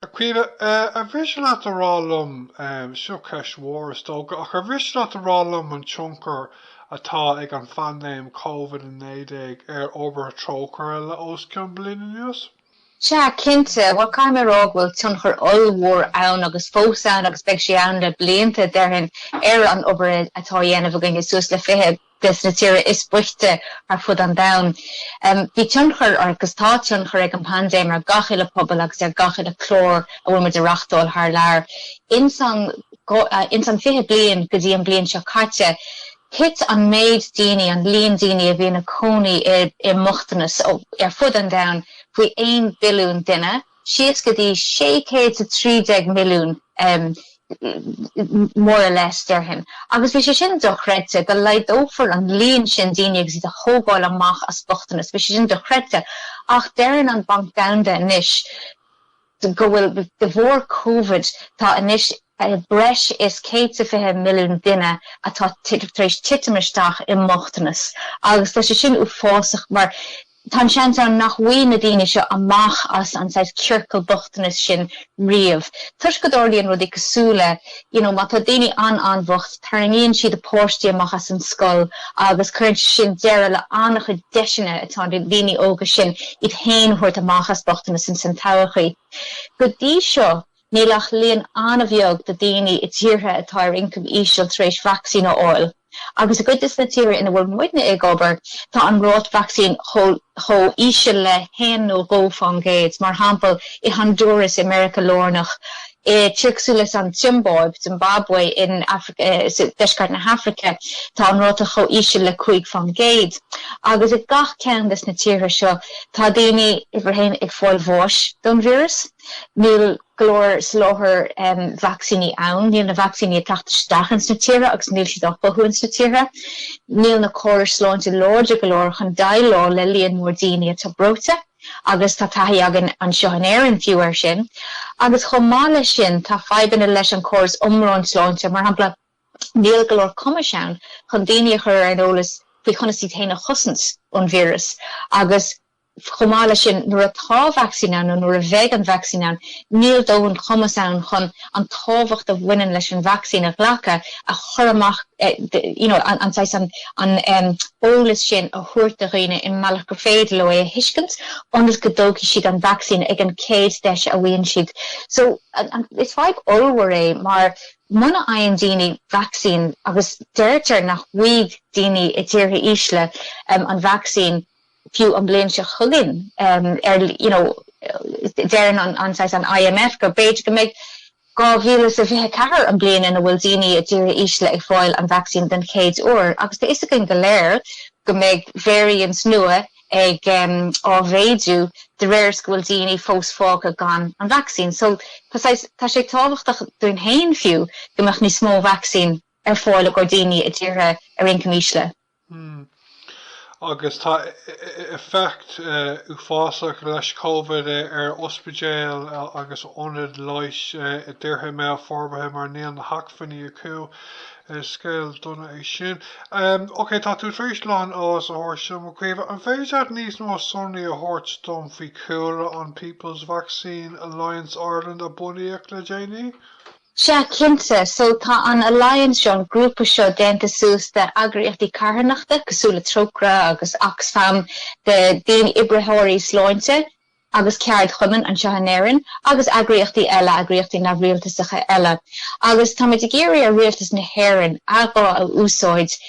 A Chaoimhe, ar mhiste leat a rá liom, seo ceist mhór is dócha, ach ar mhiste leat a rá liom an tionchar atá ag an phaindéim Covid-19 ar obair Trócaire le os cionn bliain anuas? Sea, cinnte. Bhuel, caithfidh mé a rá go bhfuil tionchar ollmhór ann agus fós ann agus beidh sé ann le blianta, déarfainn, ar an obair atá á dhéanamh againne, suas le 20 des na tíortha is boichte ar fud an domhain. Bhí tionchar, agus tá tionchar, ag an bpaindéim ar gach uile pobal agus ar gach uile clár a bhfuil muid a reachtáil thar lear. Ins an fiche bliain go dtí an bliain seo caite, thit an méid daoine, an líon daoine a bhí ina cónaí i mbochtanas ar fud an domhain faoi aon bhilliún duine. síos go dtí 613 milliún more or less, déarfainn, agus bhí sé sin dochreidte, go laghdófaí an líon sin daoine agus iad a thógáil amach as bochtanas, bhí sé sin dochreidte. Ach deireann an Banc Domhanda anois go bhfuil, de bharr Covid, tá anois, breis is 120 milliún duine atá tar éis titim isteach i mbochtanas agus tá sé sin uafásach mar tá an seans ann nach bhfaighidh na daoine seo amach as an saghas ciorcal bochtanais sin riamh toisc go dtarlaíonn rudaí cosúil le you know má tá daoine an-an-bhocht tarraingíonn siad a bpáistí amach as an scoil agus cuireann sé sin deireadh le an-chuid deiseanna atá ag na daoine óga sin iad féin a thabhairt amach as bochtanas ins an todhchaí. Go dtí seo, Níl ach líon an-bheag de daoine i dtíortha atá ar ioncam íseal tar éis vacsaín a fháil, agus i gcuid de na tíortha ina bhfuil muidne ag obair, tá an ráta vacsaín chomh híseal le haon nó dhó fán gcéad, mar shample, i Honduras i Meiriceá Lárnach, i tír cosúil le an tSiombáib, Zimbabwe, in deisceart na hAfraice, tá an ráta chomh híseal le cúig faoin gcéad. Agus i gach ceann de na tíortha seo, tá daoine, uimhir a haon, ag fáil bháis don víreas. Níl go leor soláthar vacsaíní ann. Níl na vacsaíní ag teacht isteach ins na tíortha agus níl siad á chothú ins na tíortha. Níl na córais sláinte láidir go leor chun déileáil le líon mór daoine atá breoite agus tá taithí againn anseo in Éirinn fiú air sin. Agus chomh maith leis sin, tá fadhbanna leis an córas iomlán sláinte, mar shampla, níl go leor cumais ann chun daoine a chur ar an eolas faoi chonas iad féin a chosaint ón víreas agus, Chomh maith leis sin, nuair atá vacsaín ann, nó nuair a bheidh an vacsaín ann, níl dóthain cumas ann chun an tábhacht a bhaineann leis an vacsaín a ghlacadh a chur amach, you know, an saghas an eolas sin a thabhairt do dhaoine i mbealach gur féidir leo é a thuiscint, ionas go dtógfaidh siad an vacsaín ag an gcéad deis a fhaigheann siad. So, is fadhb ollmhór é, mar muna fhaigheann daoine vacsaín, agus deirtear nach bhfaighidh daoine i dtíortha ísle an vacsaín, Fiú an bhliain seo chugainn, ar, you know, deireann an, an, saghas an IMF go mb'fhéidir go mbeidh dhá mhíle is a fiche a ceathair an bliain ina bhfuil daoine i dtíortha ísle ag fáil an vacsaín den chéad uair agus tá fhios againn go léir go mbeidh variants nua ag, um, á mhéadú de réir is go bhfuil daoine fós fágtha gan an vacsaín. So, tá saghas, tá sé tábhachtach dúinn féin fiú go mbeadh níos mó vacsaín ar fáil i gcomhair daoine i dtíortha ar ioncam ísle. Hmm. Agus tá effect uafásach leis Covid ar ospidéil agus ionaid leighis i dtíortha i mbéal forbartha mar níl na hacmhainní acu. Scéal dona é sin. Ok, tá tú tar éis a lán eolais a thabhairt dom, a Chaoimhe. An féidir leat níos mó sonraí a thabhairt dom faoi chúlra an People's Vaccine Alliance Ireland a bunaíodh le déanaí? Sea, cinnte. So, tá an Alliance seo, an grúpa seo déanta suas de eagraíochtaí carthanachta cosúil le Trócaire agus Oxfam, de daoine, oibritheoirí sláinte agus ceardchumainn anseo in Éirinn agus eagraíochtaí eile, eagraíochtaí neamhrialtasacha eile. Agus táimid ag iarraidh ar Rialtas na hÉireann a ghuth a úsáid,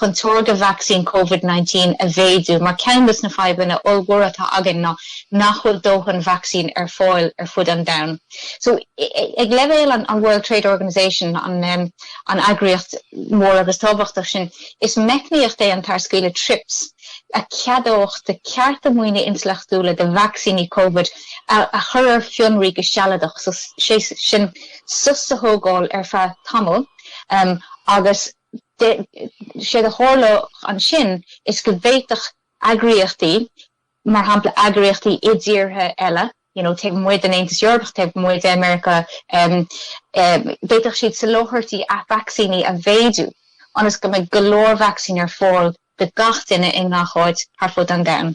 chun táirgeadh vacsaín Covid-19 a mhéadú mar ceann dos na fadhbanna ollmhóra atá againn ná nach bhfuil dóthain vacsaín ar fáil ar fud an domhain. So, ag leibhéal an World Trade Organization, an eagraíocht mhór agus tábhachtach sin, is meicníocht é an tarscaoileadh Trips a cheadódh de chearta maoine intleachtúla do vacsaíní Covid a chur ar fionraí go sealadach, sé sin sos a thógáil ar feadh tamaill agus, Séard a tharlódh ansin is go bhféadfadh eagraíochtaí, mar shampla eagraíochtaí i dtíortha eile, you know taobh amuigh den Aontas Eorpach, taobh amuigh de Meiriceá, d'fhéadfadh siad soláthairtí vacsaíní a mhéadú ionas go mbeidh go leor vacsaín ar fáil do gach duine i ngach áit thar fud an domhain.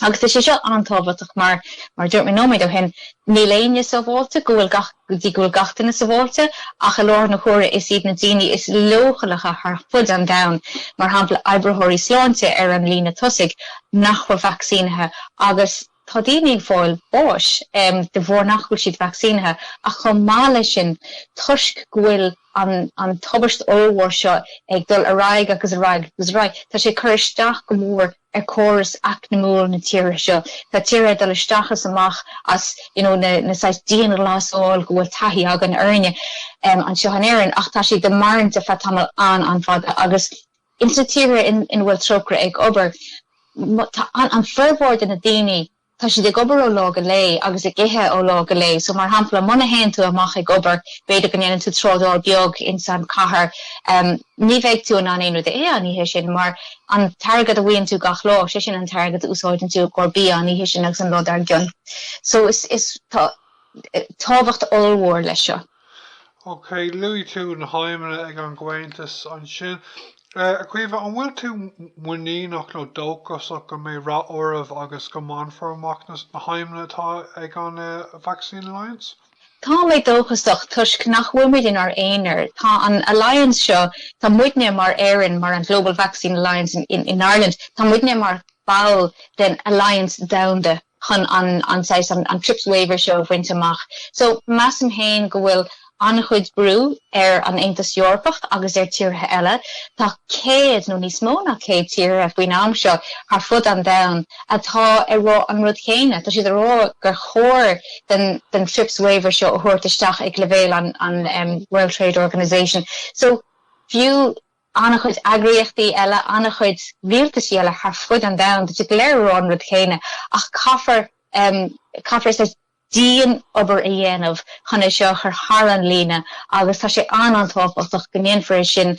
Agus tá sé seo an-tábhachtach mar, mar a dúirt mé nóiméad ó shin, níl éinne sábháilte go bhfuil gach, go dtí go bhfuil gach duine sábháilte, ach i láthair na huaire is iad na daoine is leochaileacha thar fud an domhain, mar shampla oibritheoirí sláinte ar an líne tosaigh, nach bhfuil vacsaínithe agus, Tá daoine ag fáil báis de bharr nach bhfuil siad vacsaínithe ach chomh maith leis sin, toisc go bhfuil an tubaist ollmhór seo ag dul ar aghaidh agus ar aghaidh agus ar aghaidh, tá sé ag cur isteach go mór ar chóras eacnamúil na tíre seo. Tá tíortha ag dul isteach is amach as you know na saghas dianghlasáil go bhfuil taithí againn uirthi anseo in Éirinn ach tá siad ag maireachtaint ar feadh tamall an-an-fhada agus insa tíortha ina bhfuil Trócaire ag obair, tá an formhór de na daoine, tá siad ag obair ó lá go lae agus ag ithe ó lá go lae. So, mar shampla, muna théann tú amach ag obair, b'fhéidir go ndéanann tú trádáil beag ins an chathair, ní bheidh tú in ann aon rud a ithe an oíche sin mar an t-airgead a bhfaigheann tú gach lá, sé sin an t-airgead a úsáideann tú i gcomhair bia an oíche sin agus an lá dár gcionn. So, is, is, tá tábhacht ollmhór leis seo. Ok, luaigh tú na haidhmeanna ag an gComhaontas ansin. A Chaoimhe, an bhfuil tú muiníneach nó dóchasach go mbeidh rath oraibh agus go mbainfear amach na haidhmeanna atá ag an Vaccine Alliance? Tá mé dóchasach toisc nach bhfuil muid inár n-aonar. Tá an Alliance seo, tá muidne mar Éirinn, mar an Global Vaccine Alliance in Ireland, tá muidne mar ball den Alliance Domhanda. chun an an saghas an trips waiver seo a bhaint amach. So, measaim féin go bhfuil an-chuid brú ar an Aontas Eorpach agus ar tíortha eile, tá céad nó níos mó ná céad tíortha faoin am seo thar fud an domhan atá ag rá an rud chéanna, tá siad ag rá gur chóir den den trips waiver seo a thabhairt isteach ag leibhéal an an World Trade Organisation. So, fiú an-chuid eagraíochtaí eile, an-chuid rialtaisí eile thar fud an domhain, táid go léir ag rá an rud céanna ach caithfear, caithfear saghas dian-obair a dhéanamh chun é seo a chur thar an líne agus tá sé an-an-tábhachtach go ndéanfar é sin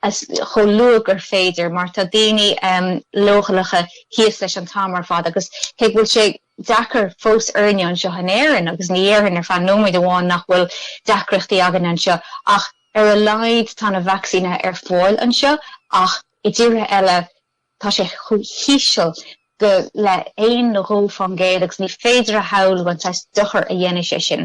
chomh luath gur féidir mar tá daoine leochaileacha thíos leis an t-am ar fad agus cé go bhfuil sé deacair fós orainne anseo in Éirinn agus ní déarfainn ar feadh nóiméid amháin nach bhfuil deacrachtaí againn anseo ach Ar a laghad tá na vacsaíne ar fáil anseo ach i dtíortha eile tá sé chomh híseal go le haon nó dhó faoin gcéad agus ní féidir a shamhlú an saghas dochair a dhéanfaidh sé sin.